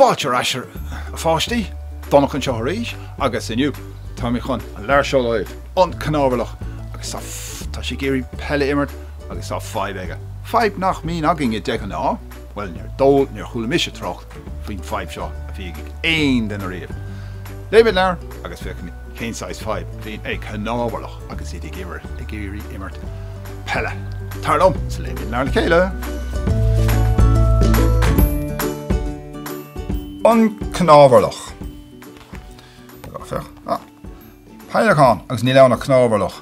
Fáilte ar ais, a pháistí! Donncha anseo arís, agus inniu, tá mé chun an leabhar seo a léamh. An Cnámharlach, agus tá, tá sé ag iarraidh peil a imirt, agus tá fadhb aige. Fadhb nach mbíonn againne de ghnáth, bhuel, níor chuala mise trácht faoin bhfadhb seo a bhí ag aon duine riamh. Léimid an leabhar agus féachaimid cén saghas fadhb a bhíonn ag cnámharlaigh agus iad ag iarraidh imirt peile. Tar liom 's léimid an leabhar le chéile! An cnámharlach. Féach, ah! Peidhleacán! Agus níl ann ach cnámharlach.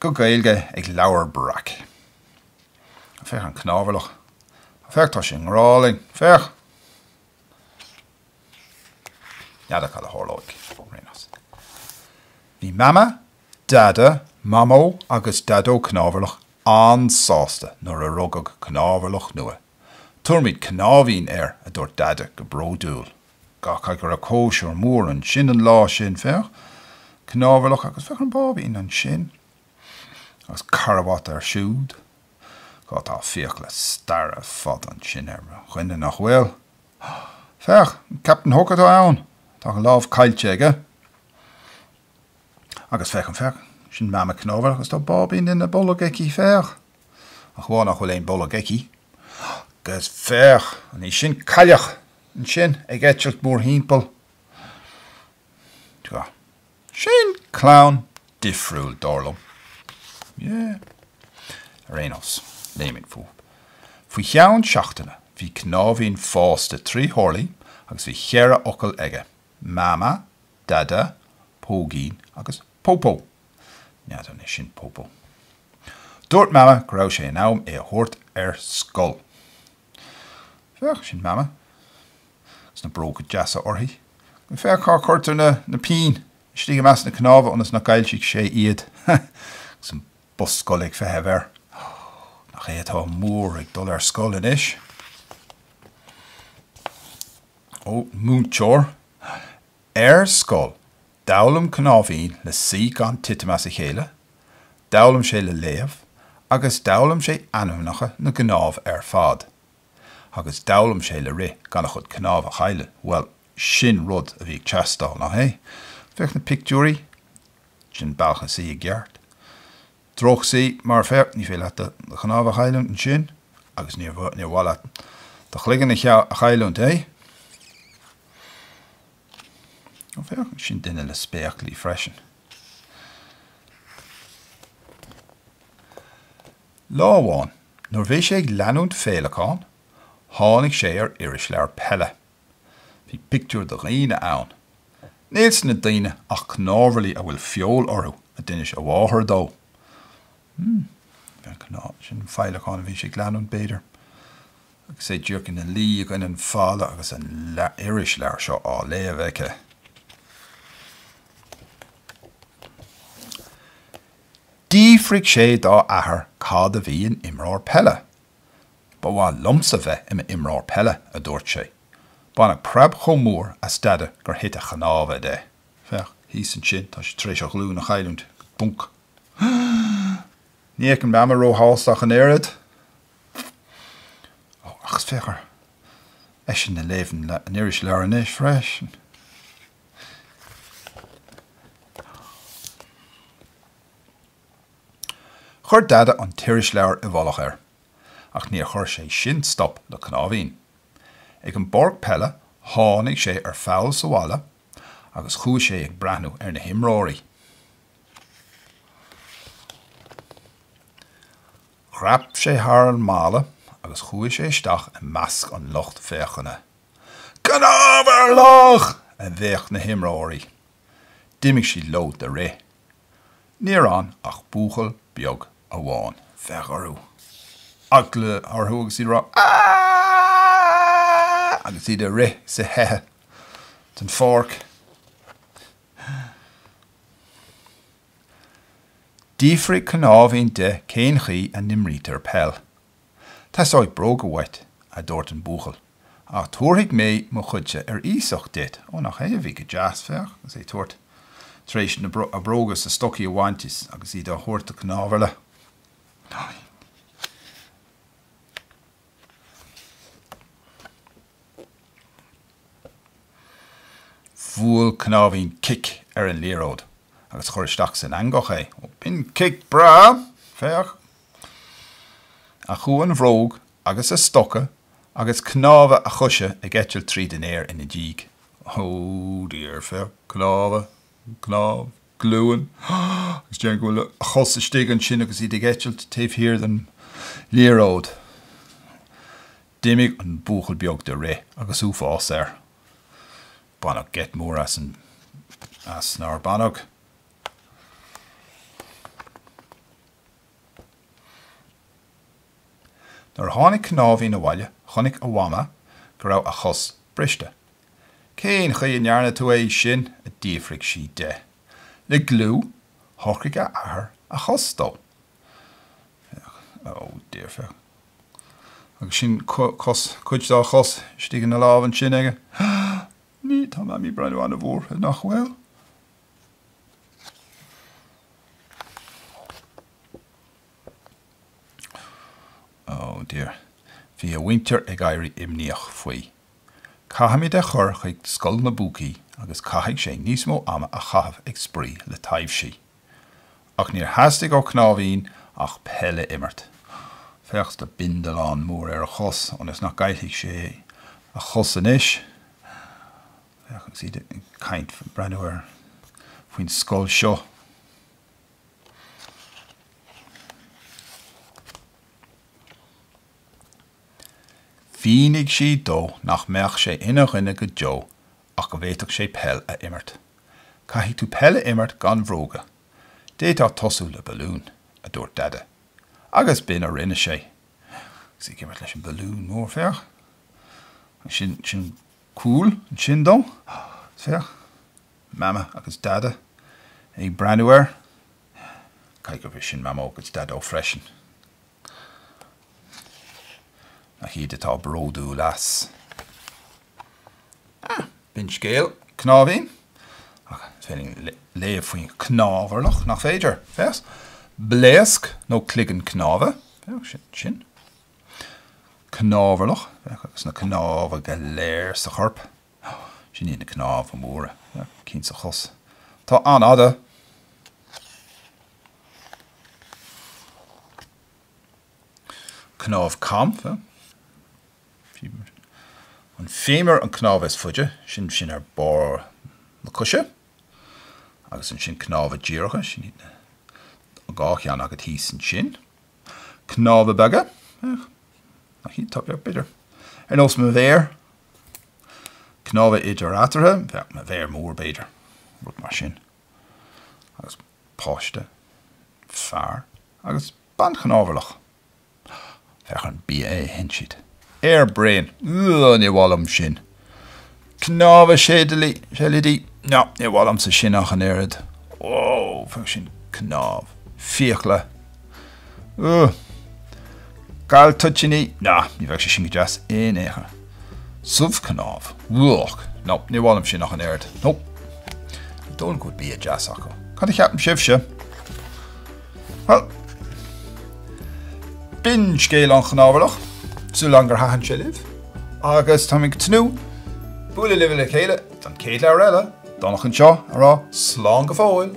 Go Gaeilge ag Leabhar Breac. Féach an cnámharlach. Féach, tá sé i ngrá linn. Féach! N'fheadar cad a tharlóidh. Bhí Mama, Dada, Mamó agus Daideo Cnámharlach an-sásta nuair a rugadh cnámharlach nua. Tabharfaimid Cnáimhín air, a dúirt Dada go bródúil. Caithfidh go raibh cóisir mhór ansin an lá sin, féach, cnámharlach agus féach an báibín ansin, agus carbhat air siúd. Tá fiacla staire ar fad ansin ar a chuid, nach bhfuil? Féach, an Captain Hook atá ann, tá a lámh caillte aige. Agus féach, féach, sin Mama Cnámharlach agus tá báibín ina bolg aici, féach. Ach amháin nach bhfuil aon bholg aici. Agus féach! An í sin Cailleach? Ansin, ag eitilt mórthimpeall. Tá. Sin clann difriúil, dar liom. Yeah. Ar aon nós, léimid fúinn. Faoi cheann seachtaine, bhí cnáimhín fásta trí horlaí agus bhí cheithre fhocal aige, Mama, Dada, Póigín agus Popo. N'fheadar anois sin Popo. Dúirt Mama go raibh sé in am é a thabhairt ar scoil. Féach, sin Mama agus na bróga deasa uirthi. Féach cá cuirtear na na pinn, istigh i measc na cnámh ionas nach gcaillfidh sé iad. Agus an bus scoile ag feitheamh air. Nach é atá mór ag dul ar scoil anois. Ó, múinteoir ar scoil D'fhoghlaim Cnáimhín le suí gan titim as a chéile, d'fhoghlaim sé le léamh, agus d'fhoghlaim sé ainmneacha na gcnámh ar fad. Agus d'fhoghlaim sé le rith gan a chuid cnámh a chailleadh. Bhuel, sin rud a bhí ag teastáil, nach é? Féach na pictiúirí, sin bealach le suí i gceart. Drochshuí, mar féach, níor mhaith leat do chnámh a chailliúint ansin, agus níor mhaith leat do chloigeann a chailliúint, é? Ó féach, sin duine le spéaclaí freisin. Lá amháin, nuair a bhí sé ag leanúint féileacáin, tháinig sé ar irisleabhar peile. Bhí pictiúir de dhaoine ann. Níl sna daoine ach cnámharlaigh a bhfuil feoil orthu, a d'inis a mháthair dó. Hmm. Féach, sin an féileacán a bhí sé ag leanúint, b'fhéidir, agus é díreach ina luí i gcoinne an falla agus an irisleabhar seo á léamh aige. D'fhiafraigh sé dá athair cad a bhí in imreoir peile. Ba mhaith liomsa bheith i m'imreoir peile, a dúirt sé. Baineadh preab chomh mór as Deaide gur thit a chnámha de. Féach, thíos ansin, tá sé tar éis a ghlúin a chailliúint. Bunc. Ní fheicim Mama róshásta ach an oiread. Ó, agus féach ar eisean ag léamh an irisleabhair anois freisin. Chuir Dada an t-irisleabhar i bhfolach air, ach níor chuir sé sin stop le Cnáimhín. Ag an bpáirc peile tháinig sé ar pholl sa bhalla agus chuaigh sé ag breathnú ar na himreoirí. Dhreap sé thar an mballa agus chuaigh sé isteach i measc an lucht féachana. Cnámharlach! a bhéic na himreoirí. D'imigh siad leo de rith. Níor fhan ach buachaill beag amháin. Féach orthu, eagla orthu agus iad ag rá Aaaaaaaaaaaa! agus iad ag rith is ag teitheadh den pháirc. D'fhiafraigh Cnáimhín de cén chaoi a n-imrítear peil. Teastóidh bróga uait, a dúirt an buachaill, ach tabharfaidh mé mo chuidse ar iasacht duit. Ó, nach é a bhí go deas, féach, agus é ag tabhairt, tar éis a bhróga is a stocaí a bhaint agus iad á thabhairt do chnámharlach. Bhuail Cnáimhín cic ar an liathróid agus chuir isteach san eangach é. Ó, b'in cic breá! Féach! Chuaigh an bhróg agus a stoca agus cnámha a choise ag eitilt tríd an aer ina diaidh. Ó, dear! Féach! Cnámha! Cnámh! glúin, agus déarfainn go bhfuil a chos istigh ansin agus iad ag eitilt taobh thiar den liathróid. D'imigh an buachaill beag de rith agus uafás air. Baineadh geit mór as, nár baineadh? Nuair a tháinig Cnáimhín abhaile chonaic a Mhama go raibh a chos briste. Cén chaoi a ndearna tú é sin? a d'fhiafraigh sí de. Le gliú, thóg a athair a chos dó. Féach. Oh dear, féach. Agus sin cos, cuid dá chos istigh ina lámh ansin aige. Ní, tá Mamaí ag breathnú an-bhuartha, nach bhfuil? Oh dear. Bhí a mhuintir ag éirí imníoch faoi. Caithfimid é a chur chuig Scoil na bPúcaí agus caithfidh sé níos mó ama a chaitheamh ag spraoi le taibhsí. Ach níor theastaigh ó Cnáimhín ach peil a imirt. Féach an bindealán mór ar a chos, ionas nach gcaillfidh sé a chos anois. Féach agus iad ag caint faoi breathnú ar faoin scoil seo. Mhínigh sí dó nach mbeadh sé ina dhuine go deo ach go bhféadfadh sé peil a imirt. 'Caithfidh tú peil a imirt gan bróga. D'fhéadfá tosú le balún, a dúirt Deaide. Agus b'in a rinne sé. Agus é ag imirt leis an mbalún mór, féach. Agus sin, sin cúl ansin dó. Féach. Mama agus Deaide ag breathnú air. Caithfidh gurb é sin Mamó agus Daideo freisin. Nach iad atá bródúil as. Ah! B'in scéal Cnáimhín. Ach is féidir linn léamh faoi chnámharlach, nach féidir? Féach. Blaosc nó cloigeann cnáimhe. Féach, sin sin. Cnámharlach, féach, agus na cnámha go léir sa chorp. Sin iad na cnámha móra, cinn sa chos. Tá sé an-fhada! Cnámh cam, an féimear an cnámh is faide, sin sin ar barr na coise. Agus ansin cnámha díreacha, sin iad na, an dhá cheann agat thíos ansin. Cnámha beaga, féach, na cinn bheaga, b'fhéidir, ar nós mo mhéar. Cnámha idir-eatartha, féach, mo mhéar mór, b'fhéidir, rud mar sin. Agus páiste, fear agus banchnámharlach, féach, an bia a itheann siad. Aer bréan, ugh, ní maith liom sin. Cnámha seilidí, seilidí? No, níor mhaith liomsa sin ach an oiread. Whoa, sú cnámh. Fiacla. Ugh. Gal toitíní? No, ní bheadh sé sin go deas in aon chor. Subh cnámh? Whoa. No, níor mhaith liom sin ach an oiread. No. An dóigh libh go bhfuil bia deas acu. Cad a cheapann sibhse? Bhuel, b'in scéal an chnámharlach, súil againn gur thaitin sé libh, agus táimid ag tnúth bualadh libh le chéile don chéad leabhar eile, Dónall anseo, ag rá slán go fóill!